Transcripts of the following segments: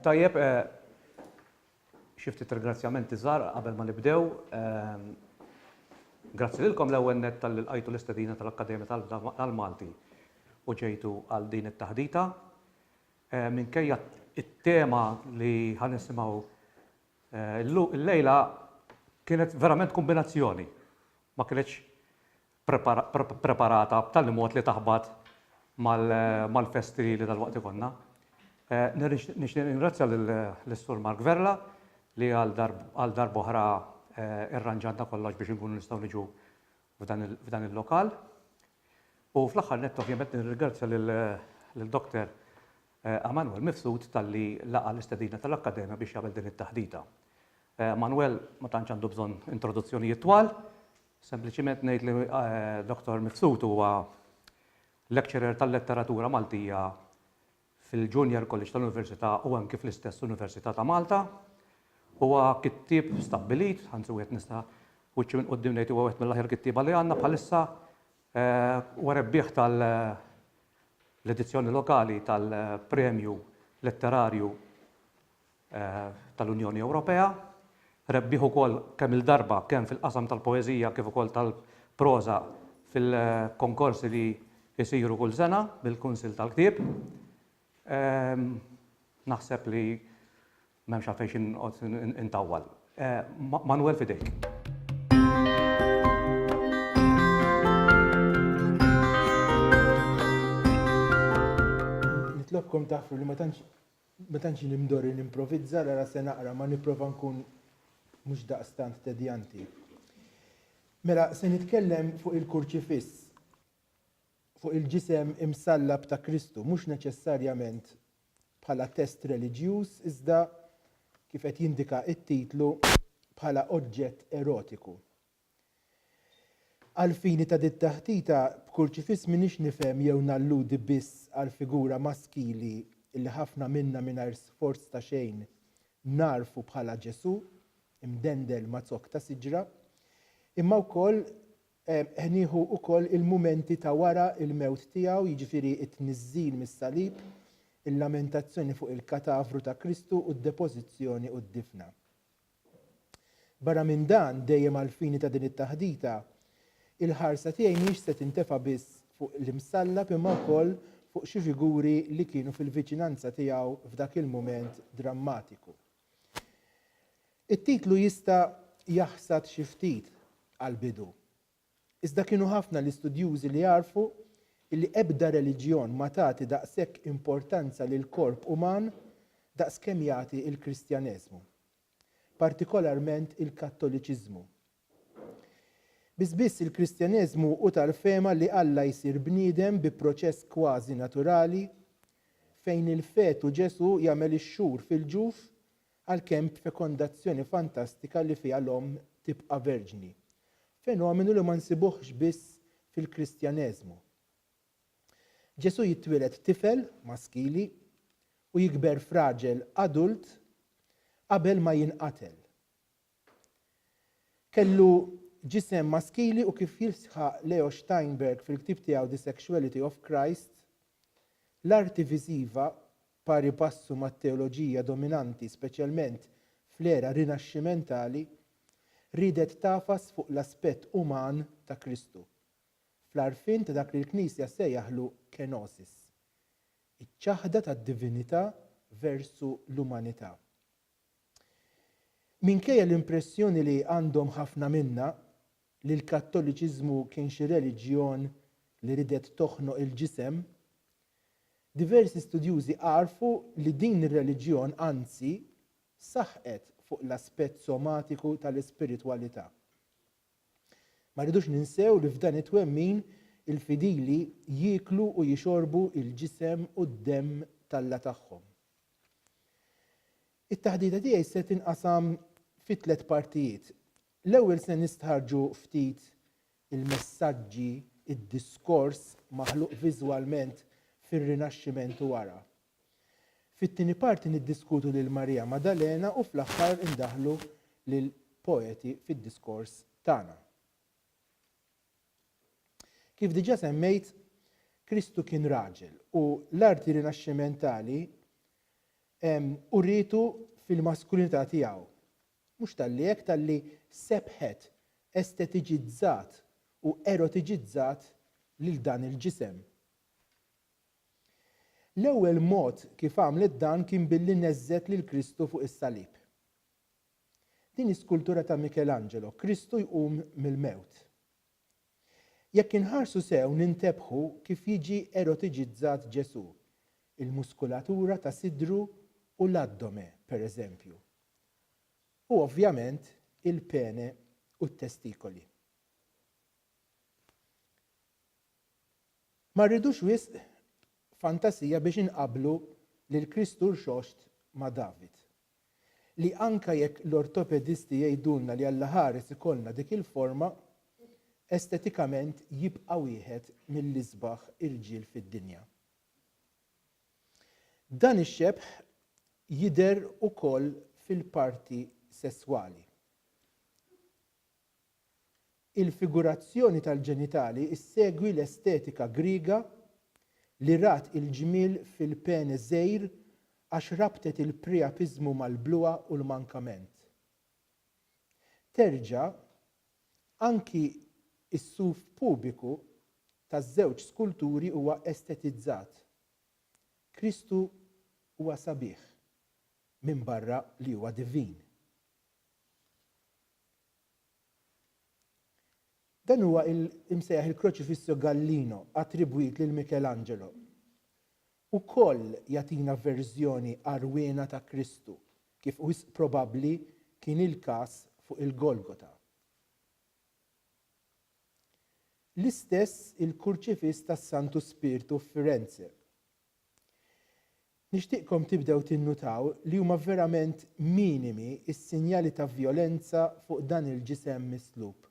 Tajjeb, xi ftit ringrazzjamenti żgħar qabel ma nibdew. Grazzi lilkom l-ewwel nett talli lqajtu l-istedina tal-Akkademja tal-Malti u ġejtu għal din it-taħdita. Minkejja t-tema li ħa nisimgħu llejla kienet verament kombinazzjoni ma kinitx preparata b'tali mod li taħbat mal-festi li dalwaqt ikollna. Nixtieq ningrazzja lis-Sur Mark Vella li għal darb'oħra irranġanna kollox biex inkunu nistgħu niġu f'dan il-lokal. U fl-aħħar nett ovvjament nirringrazzja lil Dr. Emmanuel Mifsud talli laqa' l-istedina tal-Akkademja biex jagħmel din it-taħdita. Emmanuel ma tantx għandu bżonn introduzzjonijiet twal, sempliċiment ngħid li Dr. Mifsud huwa Lecturer tal-Letteratura Maltija fil-Junior College tal-Università u anki fl-istess Università ta' Malta. Huwa kittieb stabbilit, anzi wieħed nista' wiċċi minn quddiem ngħid huwa wieħed mill-aħjar kittieba li għandna bħalissa. Huwa rebbieħ tal-edizzjoni lokali tal-Premju Letterarju tal-Unjoni Ewropea. Rebbieħ ukoll kemm-il darba kemm fil-qasam tal-poeżija kif ukoll tal-proża fil-konkorsi li jsiru kull sena mill-Kunsill tal-Ktieb. Naħseb li m'hemmx għalfejn xi noqgħod intawwal. Manwel f'idejk. Nitlobkom tagħfru li ma tantx Ma tantx jien imdorri nimprovizza, l-ara se naqra ma nipprova nkun mhux daqstant tedjanti. Mela, se nitkellem fuq il-Kurċifiss, fuq il-ġisem imsallab ta' Kristu, mhux neċessarjament bħala test reliġjuż iżda, kif qed jindika t-titlu, bħala oġġett erotiku. Għall-fini ta' dit-taħdita b'kurċifiss m'iniex nifhem jew nalludi biss għall-figura maskili li ħafna minna mingħajr sforz ta' xejn nagħrfu bħala Ġesù imdendel ma' zokk ta' siġra, imma wkoll qed nieħu wkoll il-mumenti ta' wara l-mewt tiegħu, jiġifieri t-tniżżil mis-salib, il-lamentazzjoni fuq il-katavru ta' Kristu u d-depożizzjoni u d-difna. Barra minn dan, dejjem għall-fini ta' din it-taħdita, il-ħarsa tiegħi mhix se tintefa' biss fuq l-Imsallab imma wkoll fuq xi figuri li kienu fil-viċinanza tiegħu f'dak il-mument drammatiku. It-titlu jista' jaħsad xi ftit għall-bidu, Iżda kienu ħafna l-istudjużi li għarfu li ebda reliġjon ma tagħti daqshekk importanza lill-korp uman daqs kemm jagħti l-Kristjaneżmu, partikolarment il-Kattoliċiżmu. Biss biss il-Kristjaneżmu hu tal-fehma li Alla jsir bniedem bi proċess kważi naturali fejn il-fetu Ġesù jagħmel ix-xhur fil-ġuf Għalkemm b'fekondazzjoni fantastika li fiha l-omm tibqa' verġni. Fenomenu li ma nsibuhx biss fil-Kristjaneżmu. Ġesù jitwieled tifel, maskili, u jikber f'raġel adult qabel ma jinqatel. Kellu ġisem maskili u kif jisħaq Leo Steinberg fil-ktieb tiegħu The Sexuality of Christ, l-arti viżiva Pari passu mat-teoloġija dominanti speċjalment fl-era Rinaxximentali, riedet tagħfas fuq l-aspett uman ta' Kristu, fl-għarfien ta' dak li l-Knisja ssejjaħlu kenosis, iċ-ċaħda tad-divinità versu l-umanità. Minkejja l-impressjoni li għandhom ħafna minna, li l-Kattoliċiżmu kien xi reliġjon li ridet toħnoq il-ġisem, diversi studjużi għarrfu li din ir-reliġjon anzi saħqet fuq l-aspett somatiku tal-ispiritwalità. Ma rridux ninsew li f'dan it-twemmin il-fidili jieklu u jixorbu l-ġisem u d-demm t'Alla tagħhom. It-taħdita tiegħi se tinqasam fi tliet partijiet. L-ewwel se nistħarrġu ftit il-messaġġi, id-diskors maħluq viżwalment fir-Rinaxximent u wara. Fit-tieni parti niddiskutu lil Marija Maddalena u fl-aħħar indaħħlu lil poeti fid-diskors tagħna. Kif diġà semmejt, Kristu kien raġel u l-arti Rinaxximentali urietu fil-maskulinità tiegħu Mhux talli hekk talli sebbħet, estetiċizzat u erotiċizzat lil dan il-ġisem. L-ewwel mod kif għamlet dan kien billi neżżet lil Kristu fuq is-salib. Din hi skultura ta' Michelangelo, Kristu jqum mill-mewt. Jekk inħarsu sew nintebħu kif jiġi erotiċizzat Ġesù, il-muskulatura ta' sidru u l-addome, pereżempju, u ovvjament il-pene u t-testikoli. Ma rridux wisq fantasija biex inqabblu lil Kristu Rxoxt ma' David, li anke jekk l-ortopedisti jgħidulna li allaħares ikollna dik il-forma, estetikament jibqa' wieħed mill-isbaħ irġiel fid-dinja. Dan ix-xebh jidher ukoll fil-parti sesswali. Il-figurazzjoni tal-ġenitali ssegwi l-estetika Griega li rat il-ġmiel fil-pene żgħir għax rabtet il-priapiżmu mal-bluha u l-mankament. Terġa', Anki s-suf pubiku taż-żewġ skulturi huwa estetizzat. Kristu huwa sabiħ, minbarra li huwa divin. Dan huwa l-imsejjaħ il-Crocifisso Gallino, attribwit lil Michelangelo. ukoll jagħtina verżjoni għarwiena ta' Kristu, kif wisq probabbli kien il-każ fuq il-Golgota. L-istess il-Kurċifiss tas-Santu Spirtu f'Firenze. Nixtieqkom tibdew tinnutaw li huma verament minimi s-sinjali ta' vjolenza fuq dan il-ġisem mislub.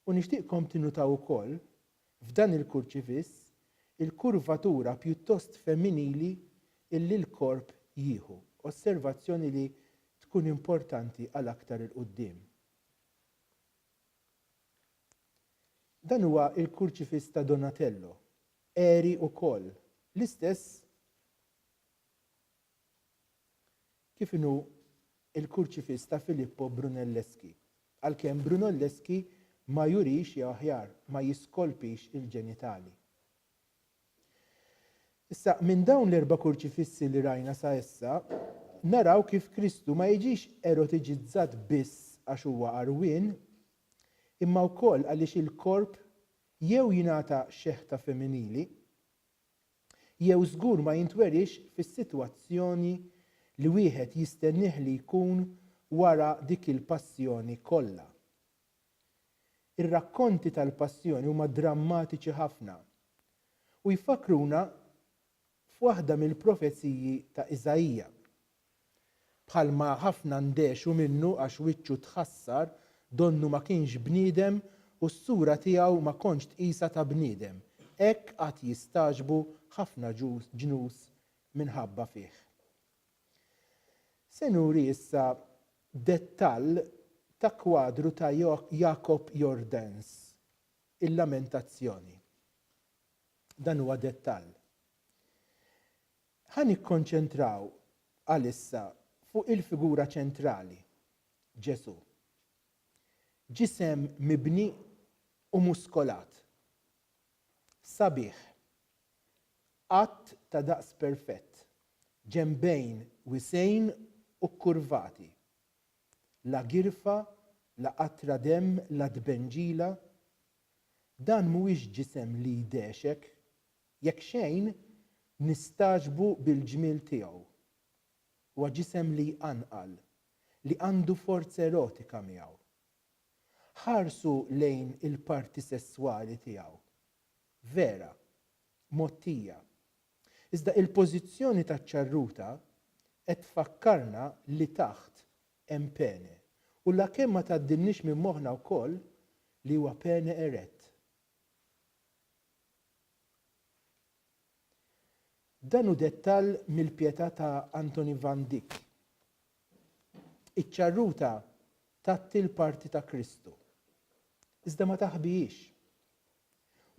U nixtieqkom tinnutaw ukoll, f'dan il-kurċifiss, il-kurvatura pjuttost femminili illi l-korp jieħu, osservazzjoni li tkun importanti għal aktar 'il quddiem. Dan huwa l-kurċifiss ta' Donatello, għeri ukoll, l-istess Kif inhu l-kurċifiss ta' Filippo Brunelleschi? Għalkemm Brunelleschi ma jurix jew aħjar, ma jiskolpix il-ġenitali. Issa, minn dawn l-erba' kurċifissi li rajna sa issa, naraw kif Kristu ma jiġix erotiġizzat biss għax huwa għarwien, imma wkoll għaliex il-korp jew jingħata xeħta femminili, jew żgur ma jintweriex fis-sitwazzjoni li wieħed jistennieh li jkun wara dik il-passjoni kollha. Ir-rakkonti tal-passjoni huma drammatiċi ħafna u jfakkruna f'waħda mill-profeziji ta' Iżaija. Bħalma ħafna ndehxu minnu għax wiċċu tħassar, donnu ma kienx bniedem u s-sura tiegħu ma kontx tqisha ta' bniedem. Hekk għad jistagħġbu ħafna ġnus minħabba fih. Se nuri issa dettall ta' kwadru ta' Jacob Jordaens, il-Lamentazzjoni. Dan huwa dettall. Ħa nikkonċentraw għalissa fuq il-figura ċentrali, Ġesù. Ġisem mibni u muskolat. Sabiħ. Qatt ta' daqs perfett, ġenbejn wisgħin u kkurvati. La girfa, la qatra demm, la tbenġila. Dan mhuwiex ġisem li jdehxek, Jekk xejn, nistagħġbu bil-ġmiel tiegħu. Huwa ġisem li jqanqal, li għandu forz erotika miegħu. Ħarsu lejn il-parti sesswali tiegħu. Vera, mgħottija. Iżda il-pożizzjoni taċ-ċarruta qed tfakkarna li taħt hemm pene u la kemm ma tgħaddilniex minn moħħna wkoll li huwa pene erett. Dan hu dettall mill-pjetà ta' Anthony van Dyck. Iċ-ċarruta tgħatti l-parti ta' Kristu, iżda ma taħbihiex.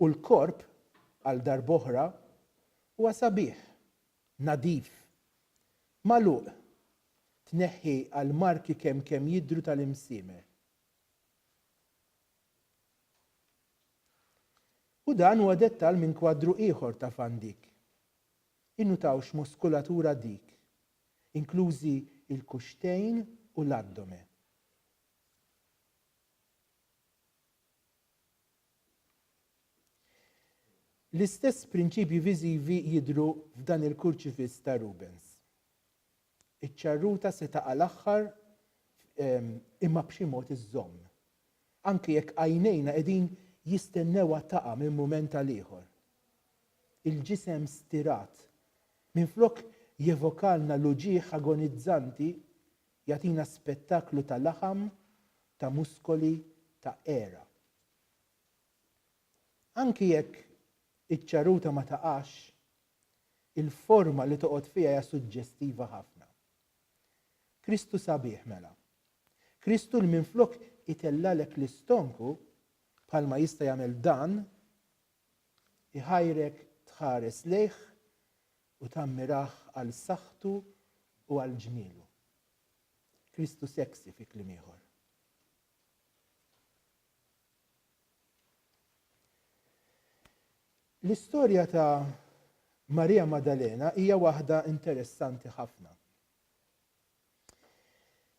U l-korp, għal darb'oħra, huwa sabiħ, nadif, magħluq, tneħħi għall-marki kemm kemm jidhru tal-imsiemer. U dan huwa dettall minn kwadru ieħor ta' van Dyck. Innutaw x'muskulatura dik, inklużi l-kuxxtejn u l-addome. L-istess prinċipji viżivi jidhru f'dan il-kurċifiss ta' Rubens. Iċ-ċarruta se taqa' l-aħħar imma b'xi mod iżżomm. Anki jekk għajnejna qegħdin jistennewha taqa' minn mument għal ieħor. Il-ġisem stirat, minflok jevokalna l-uġigħ agonizzanti, jagħtina spettaklu ta' laħam, ta' muskoli, ta' għera. Anki jekk iċ-ċarruta ma taqax, Il-forma li toqgħod fiha hija suġġestiva ħafna. Kristu sabiħ mela. Kristu li minflok itellgħalek l-istonku, bħalma jista' jagħmel dan, iħajrek tħares lejh u tammirah għal saħħtu u għal ġmielu. Kristu sexy fi kliem ieħor. L-istorja ta' Marija Maddalena hija waħda interessanti ħafna.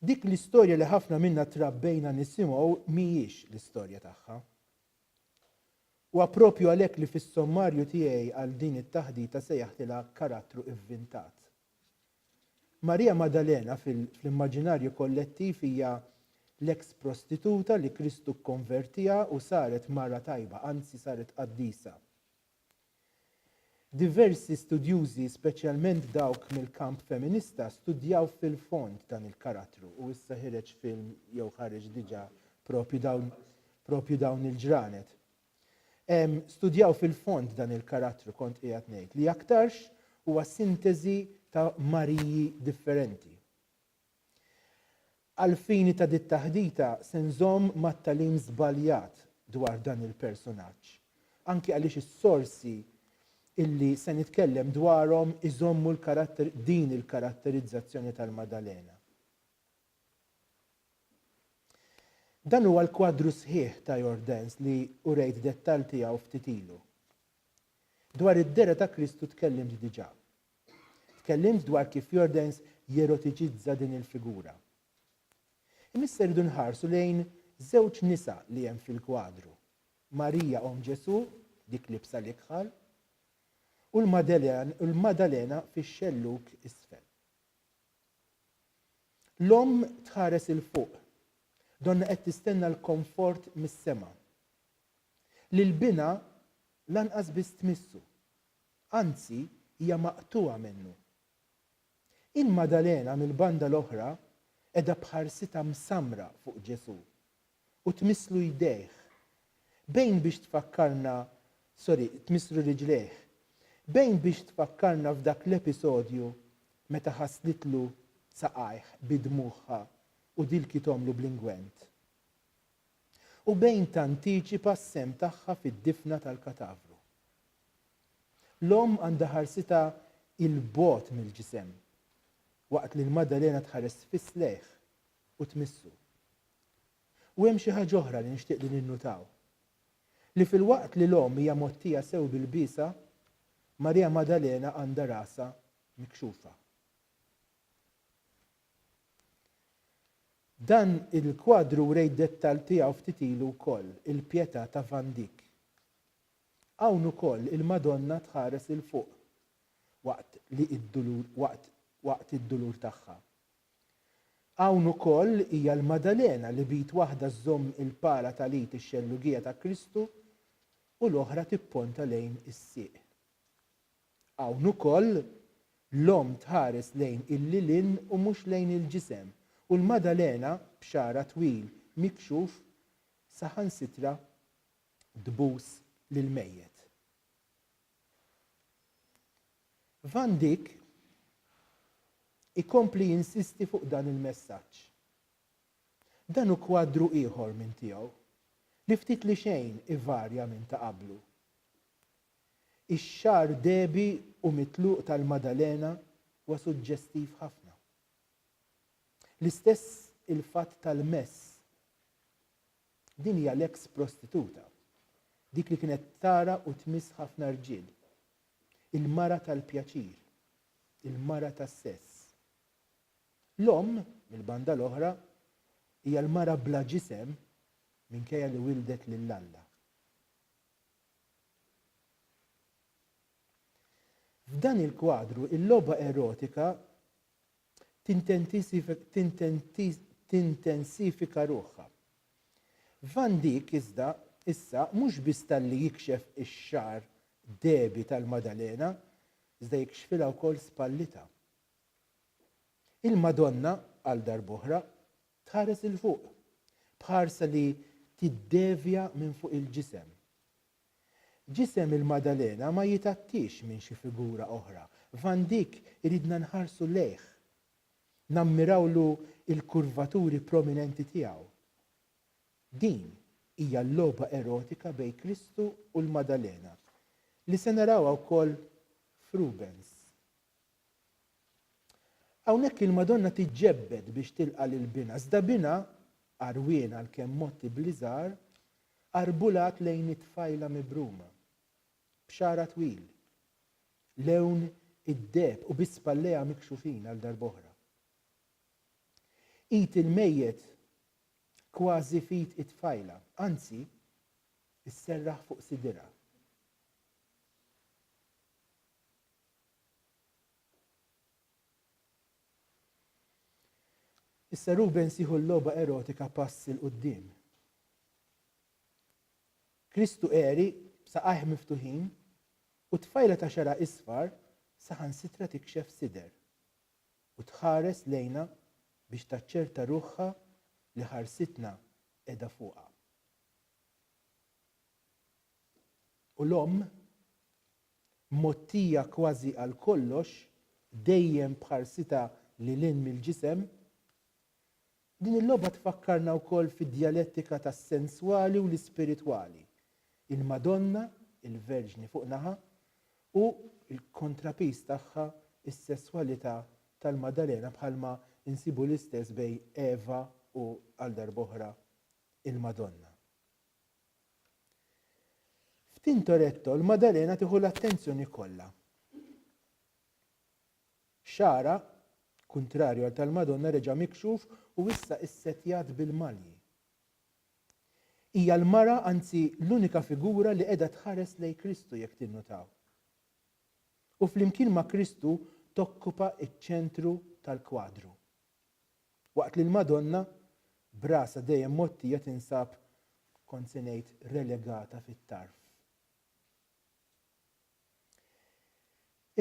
Dik l-istorja li ħafna minna trabbejna nisimgħu mhijiex l-istorja tagħha. U għapropju għalhekk li fis-sommarju tiegħi għal din it-taħdita sejjaħtilha karattru ivvintat, Marija Maddalena fl-immaġinarju kollettiv hija l-eks prostituta li Kristu kkonvertiha u saret mara tajba, anzi saret qaddisa. Diversi studjużi, speċjalment dawk mill-kamp feminista, studjaw fil-fond dan il-karattru u issa ħireġ film jew ħareġ diġà propju dawn propju dawn il-ġranet. studjaw fil-fond dan il-karattru kont qiegħed ngħid li aktarx huwa sinteżi ta' Mariji differenti. Għall-fini ta' dit-taħdita se nżomm mat-tagħlim żbaljat dwar dan il-personaġġ, anki għaliex is-sorsi illi se nitkellem dwarhom iżommu l-karatter din il-karatterizzazzjoni tal-Madalena. Dan huwa l-kwadru sħiħ ta' Your Dance li urejt dettall tiegħu ftit ilu. Dwar id-dehra ta' Kristu tkellimt diġà. Tkellimt dwar kif Your Dance jerotiċizza din il-figura. Imma issa rridu nħarsu lejn żewġ nisa li hemm fil-kwadru, Marija Omm Ġesù, dik libsa l-ikħal, u l-Maddalena fix-xellug isfel. L-omm tħares 'il fuq. Donnha qed tistenna l-konfort mis-sema. Lil binha lanqas biss tmissu. Anzi, hija maqtugħa minnu. Il-Maddalena mill-banda l-oħra qiegħda b'ħarsitha msammra fuq Ġesù. u tmisslu jdejh. Bejn biex tfakkarna, sorry, tmisslu riġlejh. Bejn biex tfakkarna f'dak l-episodju meta ħaslitlu saqajh bi dmugħha u dilkithomlu bl-ingwent. U bejn tantiċipa s-sehem tagħha fid-difna tal-katavru. L-omm għandha ħarsitha 'il bogħod mill-ġisem, waqt li l-Maddalena tħares sfiss lejh, u tmissu. U hemm xi ħaġa oħra li nixtieq li ninnutaw, li filwaqt li l-Omm hija mgħottija sew bil-biesha, Marija Maddalena għandha rasha mikxufa. Dan il-kwadru wrejt dettall tiegħu ftit ilu wkoll, il-Pietà ta' Van Dyck. Hawn ukoll il-Madonna tħares 'il fuq waqt li d-dulur waqt waqt id-dulur tagħha. Hawn ukoll hija l-Maddalena li b'id waħda żżomm il-pala tal-id ix-xellugija ta' Kristu u l-oħra tipponta lejn is-sieq. Hawn ukoll, l-Omm tħares lejn il-lilien u mhux lejn il-ġisem, u l-Maddalena, b'xagħarha twil mikxuf, saħansitra tbus lill-mejjet. Van Dijk ikompli jinsisti fuq dan il-messaġġ. Dan hu kwadru ieħor minn tiegħu li ftit li xejn ivarja minn ta' qablu. Ix-xagħar dehbi u mitluq tal-Madalena huwa suġġestiv ħafna. L-istess il-fatt tal-mess Din hija l-eks prostituta, dik li kienet tara u tmiss ħafna rġiel. Il-mara tal-pjaċir. Il-mara tas-sess. L-omm, mill-banda l-oħra, hija l-mara bla ġisem minkejja li wildet lil Alla. F'dan il-kwadru, il-logħba erotika tintensifika ruħha. Van Dijk iżda issa mhux biss talli jikxef ix-xagħar dehbi tal-Madalena iżda jikxfilha wkoll spallitha. Il-Madonna għal darb'oħra tħares 'il fuq, b'ħarsa li tiddevja minn fuq il-ġisem. Ġisem il-Madalena ma jitakkiex minn xi figura oħra, Van Dyck iridna nħarsu lejh, nammirawlu l-kurvaturi prominenti tiegħu. Din hija l-logħba erotika bejn Kristu u l-Madalena, li se narawha wkoll f'Rubens. Hawnhekk il-Madonna tiġġebbed biex tilqa' lil binha, iżda binha, għarwien għalkemm motti bl-iżgħar, Qarbulat lejn it-tfajla mibruma, b'xagħarha twil, lewn id-deheb u bi spallejha mikxufin għal darb'oħra. Id il-mejjet kważi f'id it-tfajla, anzi, isserraħ fuq sidirha. Issa Rubens jieħu l-logħba erotika pass 'il quddiem. Kristu għeri b'saqajh miftuħin u tfajla ta' xagħarha isfar saħansitra tikxef sider u tħares lejna biex taċċerta ruħha li ħarsitna qiegħda fuqha. U l-omm mgħottija kważi għal kollox, dejjem b'ħarsitha lil hinn mill-ġisem. Din il-logħba tfakkarna wkoll fid-djalettika tas-senswali u l-ispiritwali, il-Madonna, il-Verġni fuq naħa, u l-kontrapiż tagħha, is-sesswalità tal-Maddalena bħalma nsibu l-istess bejn Eva u, għal darb'oħra, il-Madonna. F'Tintoretto l-Madalena tieħu l-attenzjoni kollha. Xagħarha, kuntrarju għal tal-Madonna reġa' mikxuf u issa issettjat bil-malji. Hija l-mara anzi l-unika figura li qiegħda tħares lejn Kristu jekk tinnutaw. U flimkien ma' Kristu tokkupa ċ-ċentru tal-kwadru. Waqt li l-Madonna, b'rasha dejjem mgħottija tinsab, kont se ngħid, relegata fit-tarf.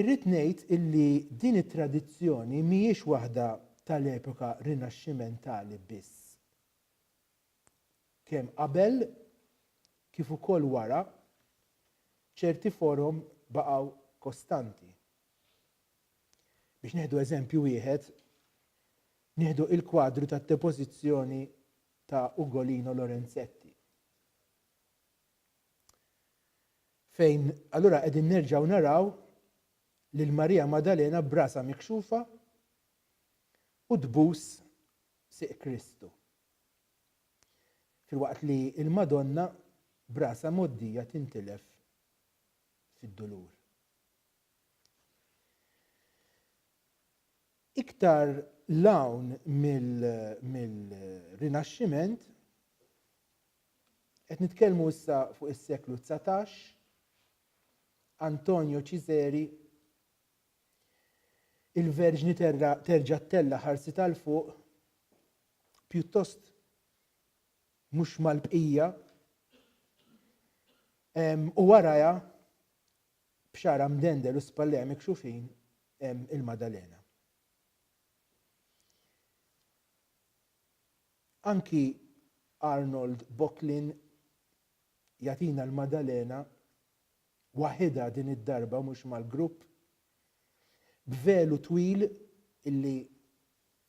Irrid ngħid illi din it-tradizzjoni mhijiex waħda tal-epoka Rinaxximentali biss. Kemm qabel kif ukoll wara, ċerti forom baqgħu kostanti. Biex nieħdu eżempju wieħed, nieħdu il-kwadru tad-depożizzjoni ta' Ugolino Lorenzetti. Fejn allura qegħdin nerġgħu naraw lil Marija Madalena brasa mikxufa u tbus siq Kristu. Filwaqt li l-Madonna brasa moddija tintilef fid-dulur. Iktar 'l hawn mill-Rinaxximent, qed nitkellmu issa fuq is-seklu dsatax, Antonio Cizeri, Il-Verġni terġa' ttella' ħarsitha 'l fuq, pjuttost mhux mal-bqija, u warajha b'xagħarha mdendel u spallejha mikxufin hemm il-Maddalena. Anki Arnold Bocklin jagħtina l-Maddalena waħidha din id-darba mhux mal-grupp b'velu twil illi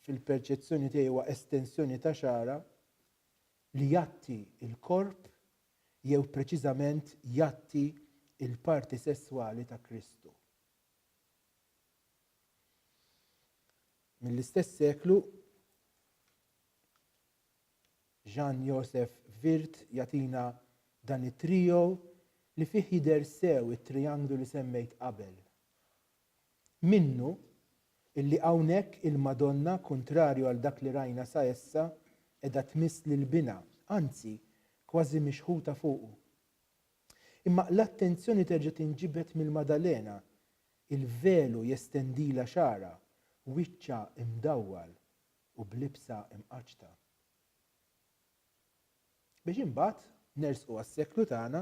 fil-perċezzjoni tiegħi huwa estensjoni ta' xagħarha li jgħatti l-korp jew preċiżament jgħatti l-parti sesswali ta' Kristu. Mill-istess seklu, Jean Joseph Wirth jagħtina dan it-trio li fih jidher sew it-trianglu li semmejt qabel. Minnu illi hawnhekk il-Madonna, kuntrarju għal dak li rajna sa issa, qiegħda tmiss lil Binha, anzi, kważi mixħuta fuqu. Imma l-attenzjoni terġa' tinġibed mill-Maddalena, il-velu jestendilha xagħarha, wiċċha mdawwal u b'libsa mqaċċta. Biex imbagħad nersqu għas-seklu tagħna.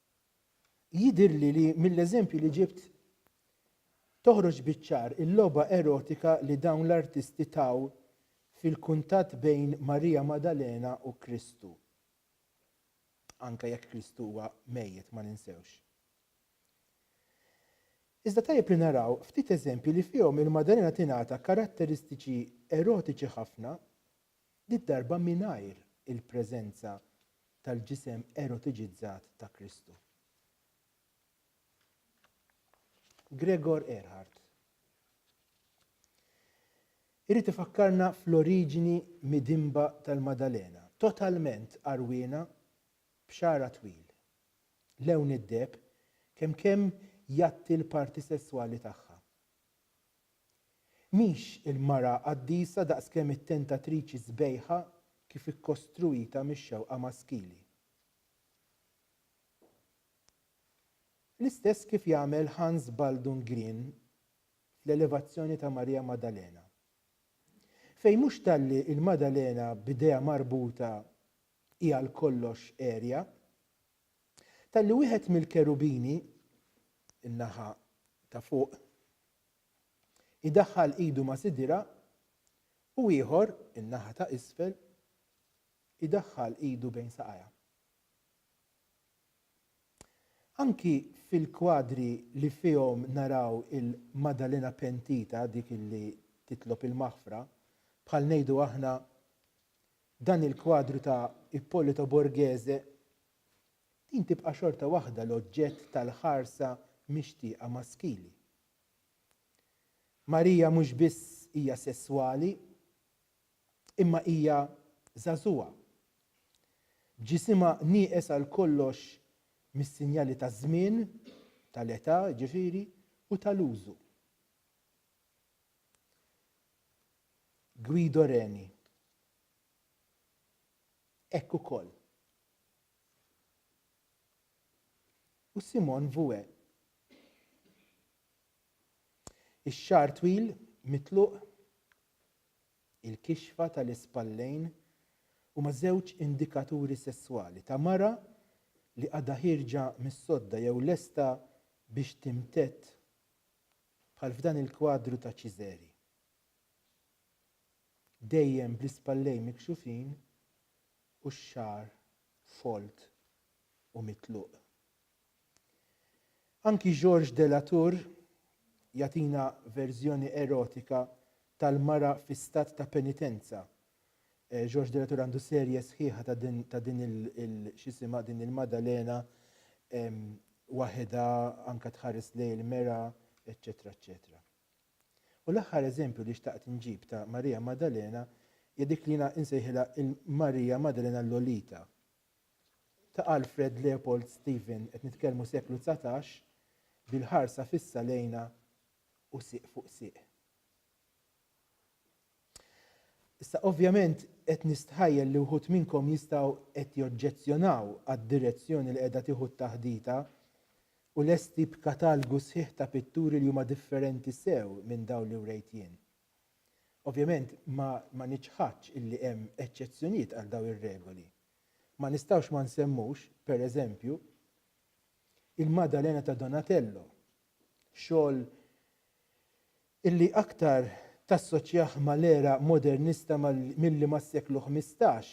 Jidhirli li mill-eżempji li ġibt toħroġ biċ-ċar il-logħba erotika li dawn l-artisti taw fil-kuntatt bejn Marija Maddalena u Kristu, anke jekk Kristu huwa mejjet, ma ninsewx. Iżda tajjeb li naraw ftit eżempji li fihom il-Maddalena tingħata karatteristiċi erotiċi ħafna did-darba mingħajr il-preżenza tal-ġisem erotiġizzat ta' Kristu. Gregor Erhard irid ifakkarna fl-oriġini midinba tal-Maddalena, totalment għarwiena b'xagħarha twil. Lewn id-deheb kemkemm jgħatti l-parti sesswali tagħha, Mhix il-mara qaddisa daqskemm it-tentatriċi sbejħa kif ikkostruita mix-xewqa maskili. L-istess kif jagħmel Hans Baldung Grien fl-Elevazzjoni ta' Marija Maddalena. Fejn mhux talli il-Maddalena b'idejha marbuta hi għal kollox għerja, Talli wieħed mill-kerubini, in-naħa ta' fuq, idaħħal idu ma' sidirha, u ieħor, in-naħa ta' isfel, idaħħal idu bejn saqajha. Anki fil-kwadri li fihom naraw il-Maddalena pentita, dik li titlob il-maħfra, bħal ngħidu aħna, F'dan il-kwadru ta' Ippolito Borghese, din tibqa' xorta waħda l-oġġett tal-ħarsa mixtieqa maskili. Marija mhux biss hija sesswali, imma hija żagħżugħa, b'ġisimha nieqes għal kollox mis-sinjali taż-żmien, tal-età, jiġifieri, u tal-użu. Guido Reni, Hekk ukoll. U Simone Vouet. Ix-xagħar twil mitluq, il-kixfa tal-ispallejn huma żewġ indikaturi sesswali ta' mara li għadha ħierġa mis-sodda jew lesta biex timtedd bħal f'dan il-kwadru ta' Ċiżeri. Dejjem bl-ispallejn mikxufin u x-xagħar folt u mitluq. Anki Georges de la Tour jagħtina verżjoni erotika tal-mara fi stat ta' penitenza George Della Torre għandu serje sħiħa ta' din ta' din il, il x'isimha din il-Maddalena waħedha anke tħares lejn il-mera, eċċetera eċċetera. U l-aħħar eżempju li xtaqt inġib ta' Marija Maddalena hija dik li jiena insejħilha il-Marija Maddalena Lolita ta' Alfred Leopold Stephen, qed nitkellmu seklu dsatax, bil-ħarsa fissa lejna u sieq fuq sieq. Issa, ovvjament, qed nistħajjel li wħud minnkom jistgħu qed joġġezzjonaw għad-direzzjoni li qiegħda tieħu t-taħdita u lesti b'katalgu sħiħ ta' pitturi li huma differenti sew minn dawn li wrejt jien. Ovvjament, ma, ma niċħadx illi hemm eċċezzjonijiet għal dawn ir-regoli. Ma nistgħux ma nsemmux, pereżempju, il-Maddalena ta' Donatello, xogħol illi aktar tassoċjah ma' l-era modernista milli mas-seklu ħmistax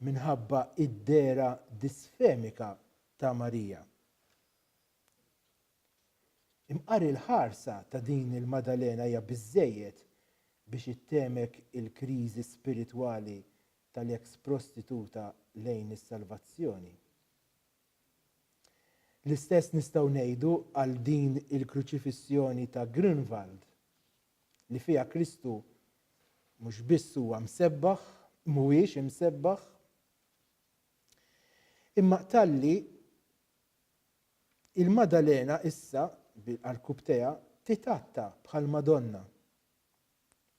minħabba id-dehra disfemika ta' Marija. Imqar il-ħarsa ta' din il-Maddalena hija biżżejjed biex ittemek il-kriżi spiritwali tal-eks prostituta lejn is-salvazzjoni. L-istess nistgħu ngħidu għal din il-Kruċifissjoni ta' Grünwald, li fiha Kristu mhux biss huwa msebbaħ, mhuwiex imsebbaħ, imma talli il-Madalena issa bil-qarkub teha titatta bħall-Madonna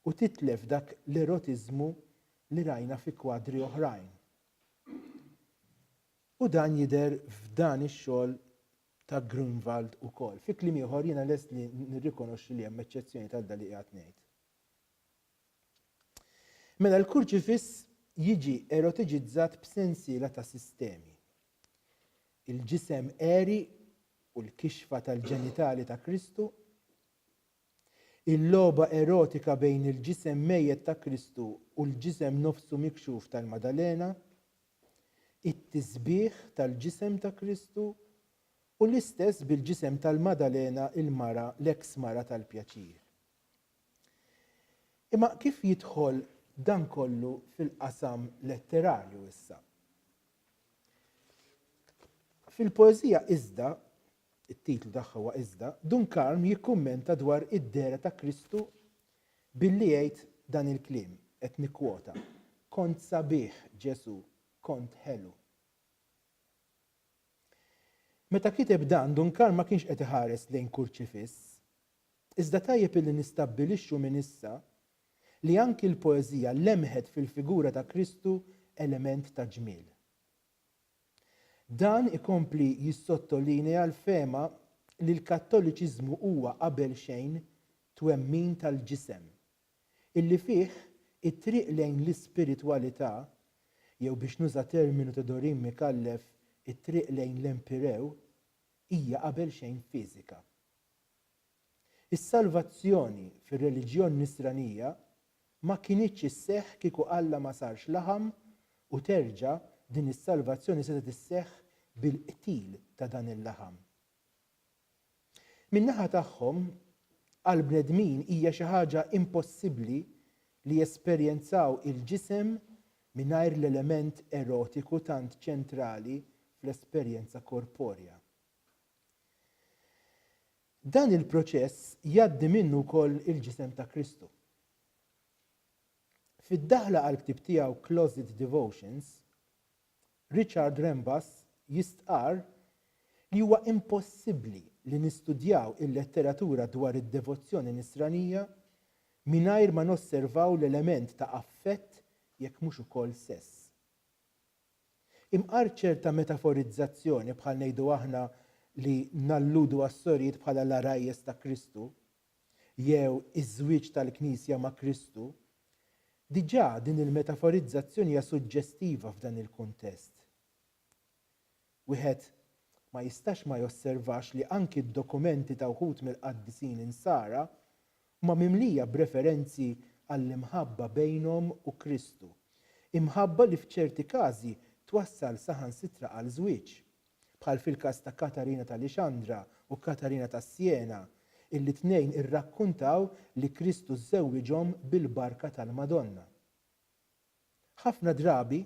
u titlef dak l-erotiżmu li rajna fi kwadri oħrajn. U dan jidher f'dan ix-xogħol ta' Grunwald ukoll. Fi kliem ieħor, jiena lest li nirrikonoxxi li hemm eċċezzjonijiet għal dan li qiegħed ngħid. Mela l-kurċifiss jiġi erotiġizzat b'sensiela ta' sistemi. Il-ġisem għeri u l-kixfa tal-ġenitali ta' Kristu, Il-logħba erotika bejn il-ġisem mejjet ta' Kristu u l-ġisem nofsu mikxuf tal-Maddalena, it-tisbih tal-ġisem ta' Kristu, u l-istess bil-ġisem tal-Maddalena il-mara l-eks mara tal-pjaċir. Imma kif jidħol dan kollu fil-qasam letterarju issa? Fil-poeżija iżda it-titlu tagħha huwa Iżda, Dunkarm jikkummenta dwar id-dehra ta' Kristu billi jgħid dan il-kliem, qed nikkwota, Kont sabiħ, Ġesù, kont ħelu. Meta kiteb dan, Dunkarm ma kienx qed iħares lejn kurċifiss. Iżda tajjeb illi nistabbilixxu minn issa li anki l-poeżija lemħet fil-figura ta' Kristu element ta' ġmiel. Dan ikompli jissottolinea l-fehma li l-Kattoliċiżmu huwa qabel xejn twemmin tal-ġisem, illi fih it-triq lejn l-ispiritwalità, jew biex nuża terminu ta' Dorin Micallef it-triq lejn l-empyreu, hija qabel xejn fiżika. Is-salvazzjoni fir-reliġjon Nisranija ma kinitx isseħħ kieku Alla ma sarx laħam u terġa' din is-salvazzjoni setgħet isseħħ bil-qtil ta' dan il-laħam. Min-naħa tagħhom, għall-bnedmin hija xi ħaġa impossibbli li jesperjenzaw il-ġisem mingħajr l-element erotiku tant ċentrali fl-esperjenza korporja. Dan il-proċess jgħaddi minnu wkoll il-Ġisem ta' Kristu. Fid-daħla għall-ktieb tiegħu Closet Devotions, Richard Rembas jistqarr li huwa impossibbli li nistudjaw il-letteratura dwar id-devozzjoni Nisranija mingħajr ma nosservaw l-element ta' affett jekk mhux ukoll sess. Imqar ċerta metaforizzazzjoni, bħal ngħidu aħna li nalludu għas-sorijiet bħala l-għarajjes ta' Kristu, jew iż-żwieġ tal-Knisja ma' Kristu. Diġà din il-metaforizzazzjoni hija suġġestiva f'dan il-kuntest. Wieħed ma jistax ma josservax li anki d-dokumenti ta' wħud mill-qaddisin insara huma mimlija b'referenzi għall-imħabba bejnhom u Kristu, imħabba li f'ċerti każi twassal saħansitra għal żwieġ, bħal fil-każ ta' Katarina ta' Lixandra u Katarina ta' Siena, illi t-tnejn irrakkuntaw li Kristu żżewwiġhom bil-barka tal-Madonna. Ħafna drabi,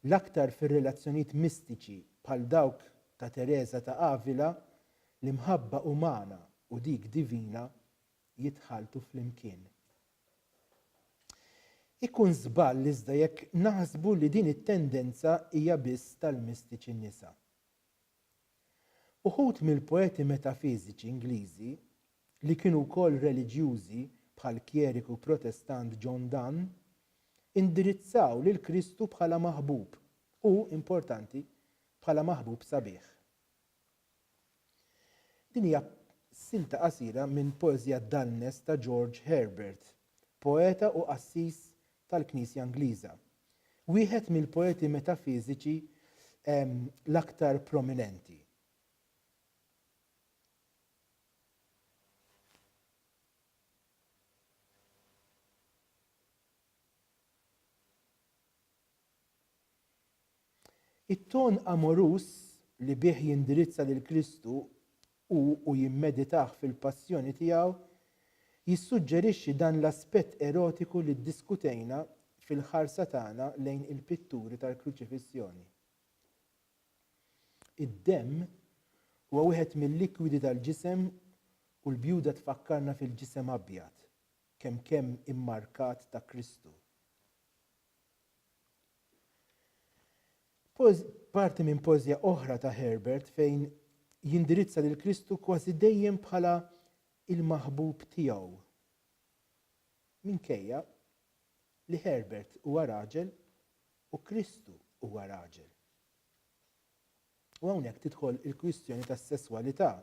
l-aktar fir-relazzjonijiet mistiċi bħal dawk ta' Tereża ta' Avila, l-imħabba umana u dik divina jitħalltu flimkien. Ikun żball iżda jekk naħsbu li din it-tendenza hija biss tal-mistiċi nisa. Uħud mill-poeti metafiżiċi Ingliżi li kienu wkoll reliġjużi bħall-kjeriku Protestant John Donne, indirizzaw lil Kristu bħala maħbub u, importanti, bħala maħbub sabiħ. Din hija silta qasira minn poeżija Dalnes ta' George Herbert, poeta u qassis tal-Knisja Ingliża, wieħed mill-poeti metafiżiċi l-aktar prominenti. It-ton amoruż li bih jindirizza lil Kristu hu u jimmeditah fil-Passjoni tiegħu jissuġġerixxi dan l-aspett erotiku li ddiskutejna fil-ħarsa tagħna lejn il-pitturi tal-Kruċifissjoni. Id-demm huwa wieħed mil-likwidi tal-ġisem u l-bjuda tfakkarna fil-ġisem abjad kemm kemm immarkat ta' Kristu. Parti minn poeżja oħra ta' Herbert fejn jindirizza lil Kristu kważi dejjem bħala l-maħbub tiegħu. Minkejja li Herbert huwa raġel, U Kristu huwa raġel. U hawnhekk tidħol il-kwistjoni tas-sesswalità.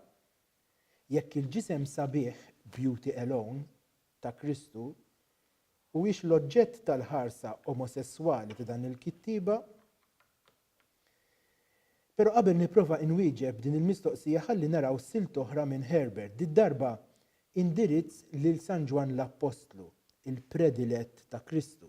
Jekk il-ġisem sabiħ, beauty alone, ta' Kristu huwiex l-oġġett tal-ħarsa omosesswali ta' dan il-kittieba, Pero' qabel nipprova inwieġeb din il-mistoqsija ħalli naraw silt oħra minn Herbert, did-darba indirizz lil San Ġwann l-Appostlu, il-predilett ta' Kristu.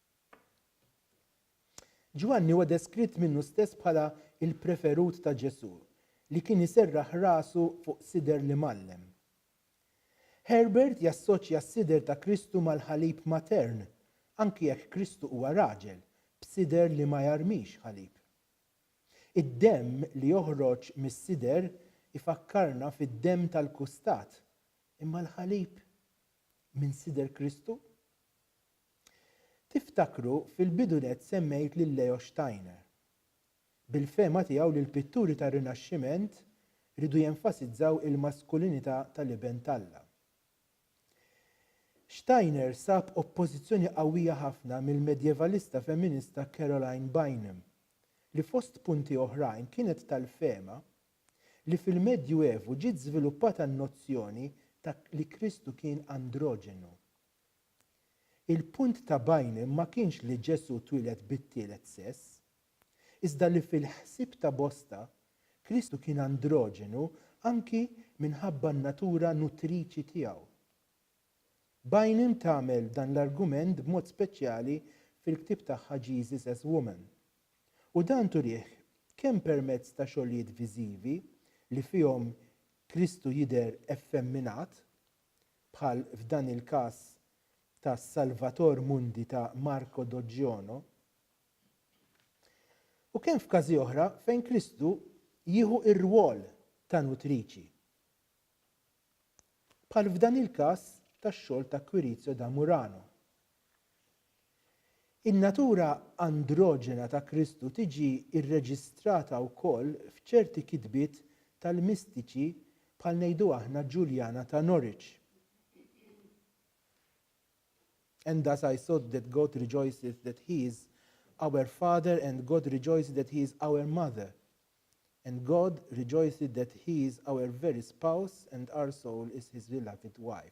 Ġwanni huwa deskritt minnu stess bħala l-preferut ta' Ġesù, li kien iserraħ rasu fuq sider li mgħallem. Herbert jassoċja s-sider ta' Kristu mal-ħalib matern, anki jekk Kristu huwa raġel, b'sider li ma jarmix ħalib. Id-demm li joħroġ mis-sider ifakkarna fid-demm tal-kustat, imma l-ħalib minn sider Kristu? Tiftakru fil-bidu nett semmejt lil Leo Steiner. Bil-fehma tiegħu li l-pitturi tar-Rinaxximent riedu jenfasizzaw il-maskulinità tal-Iben t'Alla. Steiner sab oppożizzjoni qawwija ħafna mill-medjevalista femminista Caroline Bynum, li fost punti oħrajn kienet tal-fehma li fil-Medju Evu ġiet żviluppata n-nozzjoni ta' li Kristu kien androġenu. Il-punt ta' Bynum ma kienx li Ġesù twieled bit-tielet sess, iżda li fil-ħsieb ta' bosta, Kristu kien androġenu anki minħabba n-natura nutriċi tiegħu. Bynum tagħmel dan l-argument b'mod speċjali fil-ktieb tagħha Jesus as Woman, u dan turih kemm permezz ta' xogħlijiet viżivi li fihom Kristu jidher effemminat bħal f'dan il-każ ta' Salvator Mundi ta' Marco Doggiono, u kemm f'każi oħra fejn Kristu jieħu r-rwol ta' nutriċi, bħal f'dan il-każ tax-xogħol ta' Quirizio da Murano, In-natura androġena ta' Kristu tiġi rreġistrata wkoll f'ċerti kitbiet tal-mistiċi bħal ngħidu aħna Ġuljana ta' Norwich, And thus I thought that God rejoiceth that He is our Father and God rejoiceth that He is our Mother and God rejoiceth that He is our very Spouse and our soul is His beloved wife.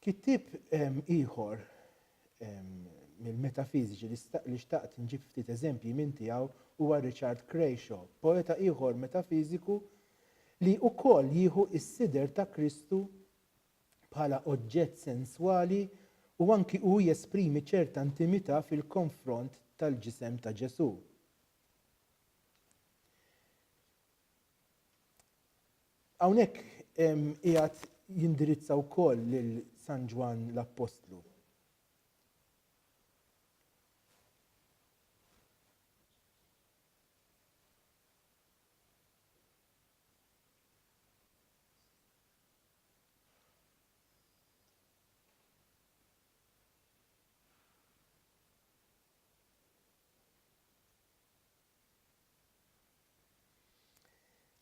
Kittieb ieħor mill-metafiżiċi li xtaqt nġib ftit eżempji minn tiegħu huwa Richard Crashaw, poeta ieħor metafiżiku li wkoll jieħu s-sider ta' Kristu bħala oġġett senswali u anki hu jesprimi ċerta intimità fil-konfront tal-ġisem ta' Ġesù. Hawnhekk qiegħed jindirizza wkoll lil San Ġwann l-Appostlu.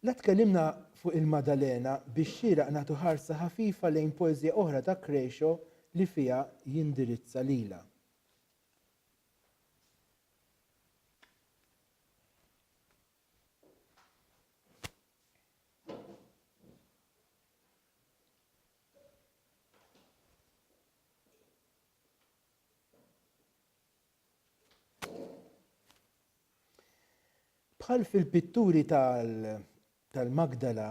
La tkellimna fuq il-Maddalena biex xieraq nagħtu ħarsa ħafifa lejn poeżija oħra ta' Crecio li fiha jindirizza lilha. Bħal fil-pitturi tal-Magdala,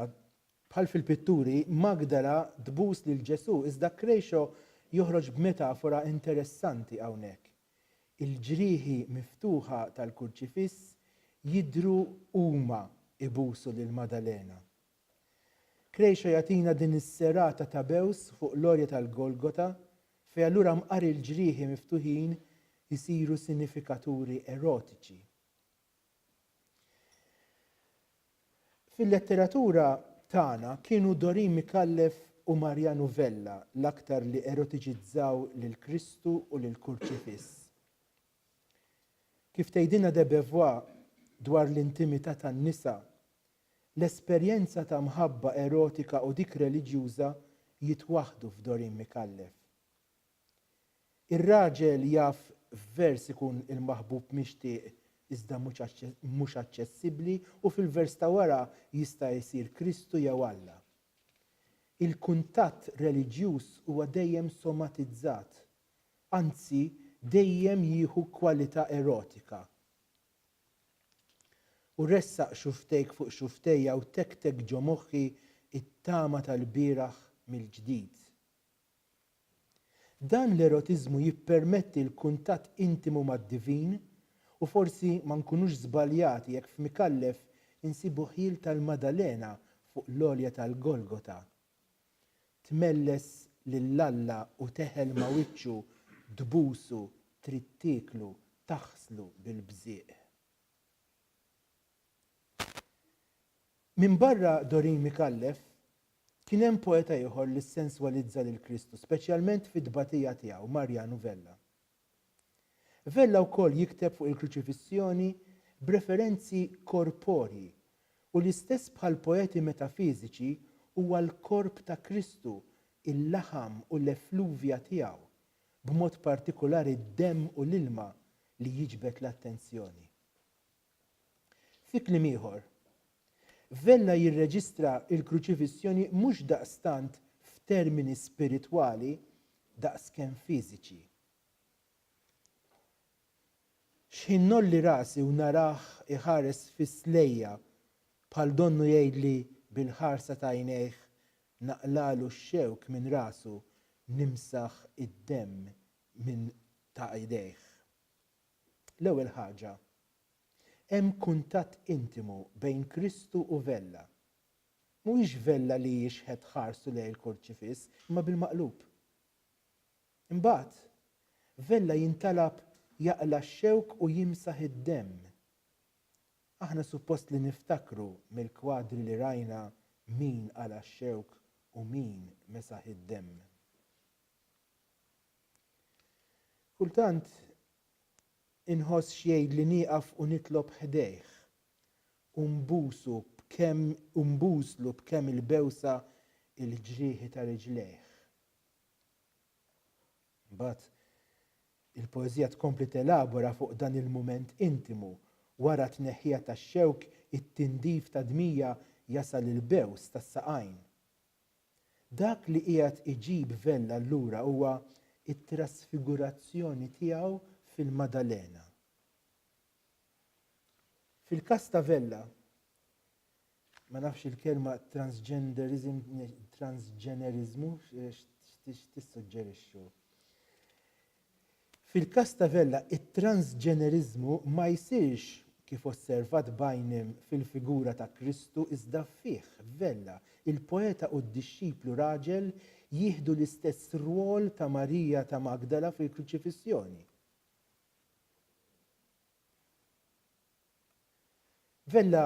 bħal fil-pitturi, Magdala tbus lil Ġesù iżda Crejo joħroġ b'metafora interessanti hawnhekk. Il-ġrieħi miftuħa tal-Kurċifiss jidhru huma ibusu lil Madalena. Krejxa jagħtina din is-serata ta' bews fuq l-għolja tal-Golgota fejn allura mqari l-ġrieħi miftuħin isiru sinifikaturi erotiċi. Fil-letteratura tagħna kienu Dorin Micallef u Mariano Vella l-aktar li erotiċizzaw lil Kristu u lill-Kurċifiss. Kif tgħidilna de Beauvoir dwar l-intimità tan-nisa L-esperjenza ta' mħabba erotika u dik reliġjuża jitwaħħdu f'Doreen Micallef. Ir-raġel jaf f'vers ikun il-maħbub mixtieq iżda mhux aċċessibbli u fil-vers ta' wara jista' jsir Kristu jew Alla. Il-kuntatt reliġjuż huwa dejjem somatizzat, anzi dejjem jieħu kwalità erotika. U ressaq xufftejk fuq xufftejja u tektek ġo moħħi t-tama tal-bieraħ mill-ġdid. Dan l-erotiżmu jippermetti l-kuntatt intimu mad-divin u forsi ma nkunux żbaljati jekk f'Mikallef insibu ħjiel tal-Maddalena fuq l-għolja tal-Golgota Tmelles lil Alla u teħel ma' wiċċu Tbusu trid tieklu Taħslu bil-bżieq Minbarra Doreen Micallef, kien hemm poeta ieħor li ssenswalizza lil Kristu, speċjalment fit-tbatija tiegħu, Mariano Vella. Vella wkoll jikteb fuq il-Kruċifissjoni b'referenzi korporji u l-istess bħall-poeti metafiżiċi huwa l-korp ta' Kristu, il-laħam u l-effluvja tiegħu, b'mod partikulari d-demm u l-ilma, li jiġbed l-attenzjoni. Fi kliem ieħor, Vella jirreġistra l-Kruċifissjoni mhux daqstant f'termini spiritwali daqskemm fiżiċi. X'ħin ngħolli rasi u narah iħares fiss lejja, bħal donnu jgħidli bil-ħarsa ta' għajnejh naqlagħlu x-xewk minn rasu, nimsaħ id-demm minn ta' idejh. L-ewwel ħaġa, hemm kuntatt intimu bejn Kristu u Vella. Mhuwiex Vella li jixħet ħarsu lejn il-Kurċifiss, imma bil-maqlub. Imbagħad, Vella jintalab jaqla' x-xewk u jimsaħ id-demm. Aħna suppost li niftakru mill-kwadri li rajna min qala' x-xewk u min mesaħ id-demm. Kultant inħoss x'jgħid li nieqaf u nitlob ħdejh u nbusu b'kemm u nbuslu b'kemm il-bewsa il-ġrieħi ta' riġlejh. Mbagħad il-poeżija tkompli telabora fuq dan il-mument intimu, wara t-tneħħija tax-xewk it-tindif tad-dmija jasal il-bews tas-saqajn. Dak li qiegħed iġib Vella lura huwa t-trasfigurazzjoni tiegħu fil-Maddalena. Fil-każ ta' Vella, ma nafx il-kelma transgenderism, transġeneriżmu x'tissuġġerixxu. Fil-każ ta' Vella, it-transġeneriżmu ma jsirx kif osservat b'għajnejn fil-figura ta' Kristu iżda fih, f'Vella. Il-poeta u d-dixxiplu raġel jieħdu l-istess rwol ta' Marija ta' Magdala fil-Kruċifissjoni. Vella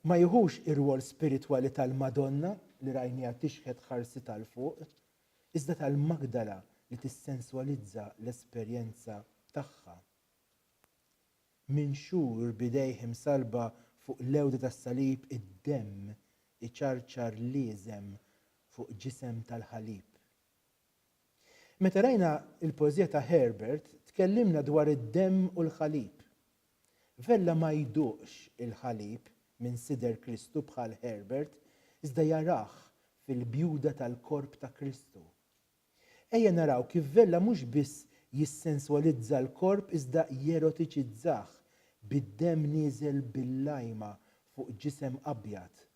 ma jieħux ir-rwol spiritwali tal-Madonna li rajniha tixħet ħarsitha 'l fuq, iżda tal-Magdala li tissenswalizza l-esperjenza tagħha. Minxur b'idejh imsallba fuq l-għewda tas-salib id-demm iċarċar l-iesem fuq ġisem tal-ħalib. Meta qrajna l-poeżija ta' Herbert tkellimna dwar id-demm u l-ħalib. Vella ma jduqx il-ħalib minn sider Kristu bħal Herbert iżda jarah fil-bjuda tal-korp ta' Kristu. Ejja naraw kif Vella mhux biss jissenswalizza l-korp iżda jerotiċizzah bid-demm nieżel bil-lajma fuq ġisem abjad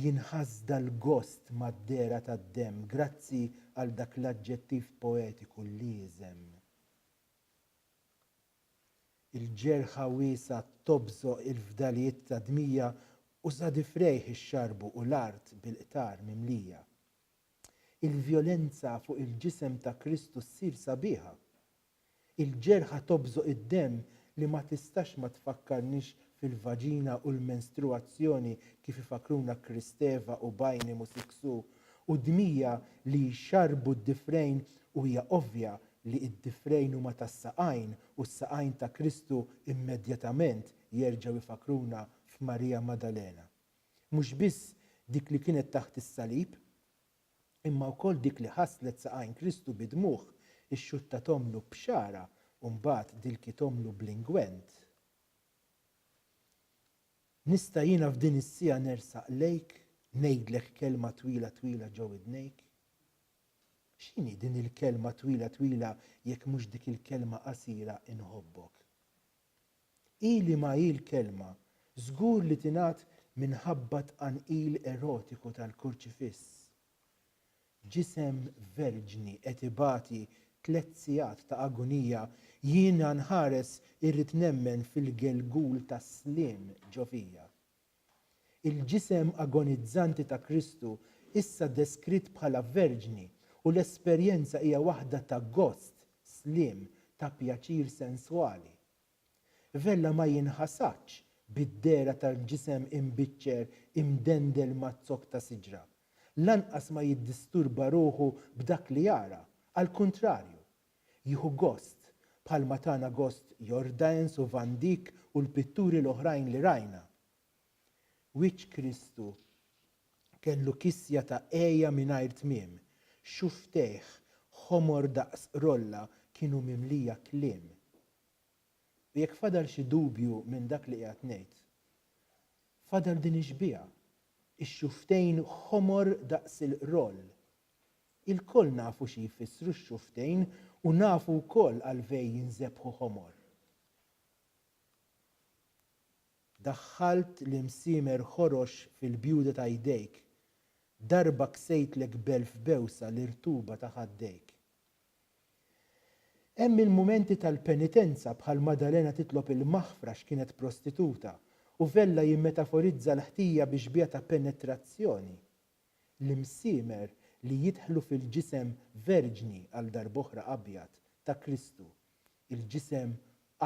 Jinħass dal-gost mad-dehra tad-demm grazzi għal dak l-aġġettiv poetiku l-ieżem. Il-ġerħa wiesgħa tobżoq il-fdalijiet ta' dmija u sa difrejh ixxarrbu u l-art bil-qtar mimlija. Il-vjolenza fuq il-ġisem ta' Kristu ssir sabiħa Il-ġerħa tobżoq id-demm li ma tistax ma tfakkarnix fil-vaġina u l-menstruazzjoni kif ifakkruna Kristeva u Bajnim u Siksu u dmija li jxarrbu d-difrejn u hija ovvja li id-difrejn huma tas-saqajn u s-saqajn ta' Kristu immedjatament jerġgħu jfakkruna f'Marija Maddalena. Mhux biss dik li kienet taħt is-salib imma wkoll dik li ħasslet saqajn Kristu bi dmugħ, ixxuttat ommlu b'xagħarha u mbagħad dilkiet ommlu bl-ingwent. Nista' jiena f'din is-siegħa nersaq lejk, ngħidlek kelma twila twila ġo widnejk? X'inhi din il-kelma twila twila jekk mhux dik il-kelma qasira inħobbok? Hi li ma hi l-kelma, żgur li tingħad minħabba t-tqanqil erotiku tal-kurċifiss. Ġisem verġni qed ibati tliet sigħat ta' agunija, jiena nħares irrid nemmen fil-gelgul tas-sliem ġo fija. Il-ġisem agonizzanti ta' Kristu, issa deskritt bħala verġni, u l-esperjenza hija waħda ta' gost, sliem, ta' pjaċir senswali. Vella ma jinħasadx bid-dehra tal-ġisem imbiċċer imdendel maz-zokk ta' siġra. Lanqas ma jiddisturba ruħu b'dak li jara, għall-kuntrarju, Jieħu gost, bħalma tana gost Jordaens u Van Dyck u l-pitturi l-oħrajn li rajna. Wiċċ Kristu kellu kisja ta' għeja mingħajr tmiem, xufftejh ħomor daqs rolla kienu mimlija kliem. U jekk fadal xi dubju minn dak li qiegħed ngħid, fadal din ix-xbieha, ix-xufftejn ħomor daqs il-roll Ilkoll nafu xi jfissru x-xufftejn u nafu wkoll għalfej jinżebħu ħomor. Daħħalt l-imsiemer ħorox fil-bjuda ta' jdejk, darba ksejtlek b'elf bewsa l-irtuba ta' ħaddejk. Hemm il-mumenti tal-penitenza bħal Maddalena titlob il-maħfra x'kienet prostituta u Vella jimmetaforizza l-ħtija bi xbieha ta' penetrazzjoni l-imsiemer li jidħlu fil-ġisem verġni għal darb'oħra abjad ta' Kristu, il-ġisem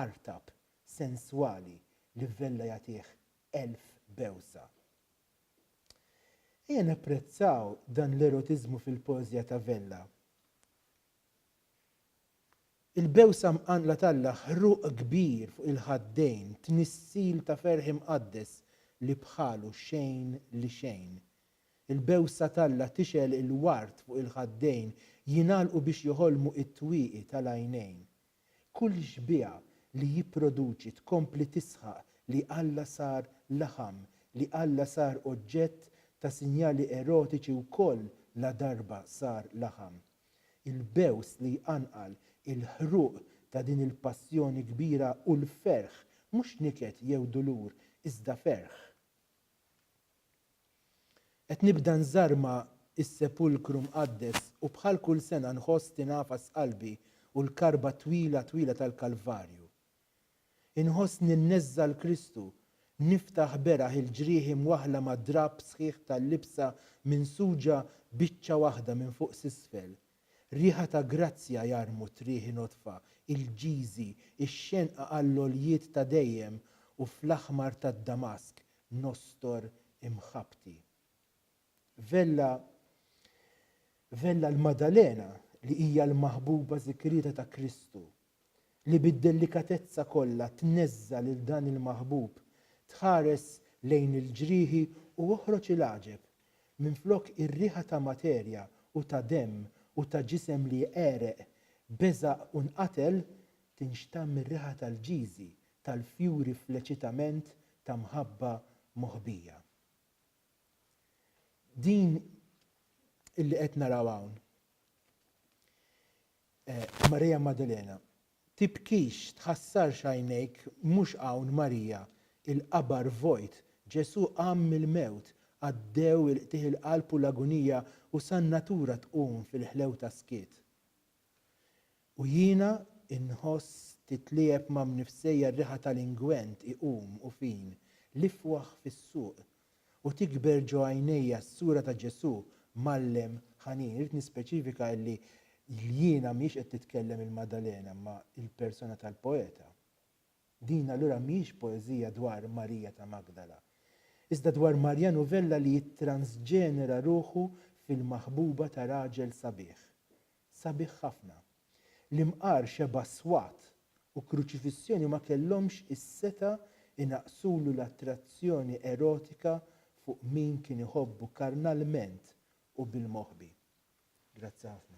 artab, senswali li vella jagħtih elf bewsa. Ejja napprezzaw dan l-erotiżmu fil-poeżja ta' Vella. Il-bewsa mqanqla t'Alla, ħruq kbir fuq il-ħaddejn, tnissil ta' ferħ imqaddes li bħalu xejn li xejn. Il-bewsa t'Alla tixgħel il-ward fuq il-ħaddejn jingħalqu biex joħolmu it-twieqi tal-għajnejn. Kull xbieha li jipproduċi tkompli tisħaq li Alla sar laħam, li Alla sar oġġett ta' sinjali erotiċi wkoll ladarba sar laħam. Il-bews li jqanqal, il-ħruq ta' din il-passjoni kbira u l-ferħ, mhux niket jew dulur, iżda ferħ. Qed nibda nżarma s-Sepulkru Mqaddes u bħal kull sena nħoss tingħafas qalbi u l-karba twila twila tal-Kalvarju. Inħoss ninneżża' 'l Kristu, niftaħ beraħ il-ġrieħi mwaħħla ma' drapp sħiħ tal-libsa minsuġa biċċa waħda minn fuq s'isfel. Riħa ta' grazzja jarmu t-trieħi nodfa, il-ġiżi, ix-xenqa għall-għoljiet ta' dejjem u fl-aħmar tad-damask nostor imħabbti. Vella Vella l-Maddalena, li hija l-maħbuba żikrieta ta' Kristu, li bid-delikatezza kollha tneżża' lil dan il-maħbub, tħares lejn il-ġrieħi u oħroġ il-għaġeb, minflok ir-riħa ta' materja u ta' demm u ta' ġisem li għereq, beżaq u nqatel, tinxtamm ir-riħa tal-ġiżi, tal-fjuri fl-eċitament ta' mħabba moħbija. Din illi qed naraw hawn, Marija Maddalena, tibkix, tħassarx għajnejk mhux hawn Marija, il-qabar vojt, Ġesù qam mill-mewt, għaddew il-qtigħ il-qalb u l-agunija u san-natura tqum fil-ħlewta skiet. U jiena nħoss titliegħeb ma' mnifsejja r-riħa tal-ingwent iqum u fin l-ifwaħ fis-suq, u tikber ġo għajnejja s-sura ta' Ġesù mgħallem ħanin. Irrid nispeċifika illi l-jiena mhijiex qed titkellem il-Maddalena imma il-persona tal-poeta. Din allura mhijiex poeżija dwar Marija ta' Magdala, iżda dwar Marja Novella li jittransġenera ruħu fil-maħbuba ta' raġel sabiħ. Sabiħ ħafna. L-imqar xebgħa swat u kruċifissjoni ma kellhomx is-setgħa jnaqqsulu l-attrazzjoni erotika fuq min kien iħobbu karnalment u bil-moħbi. Grazzi ħafna.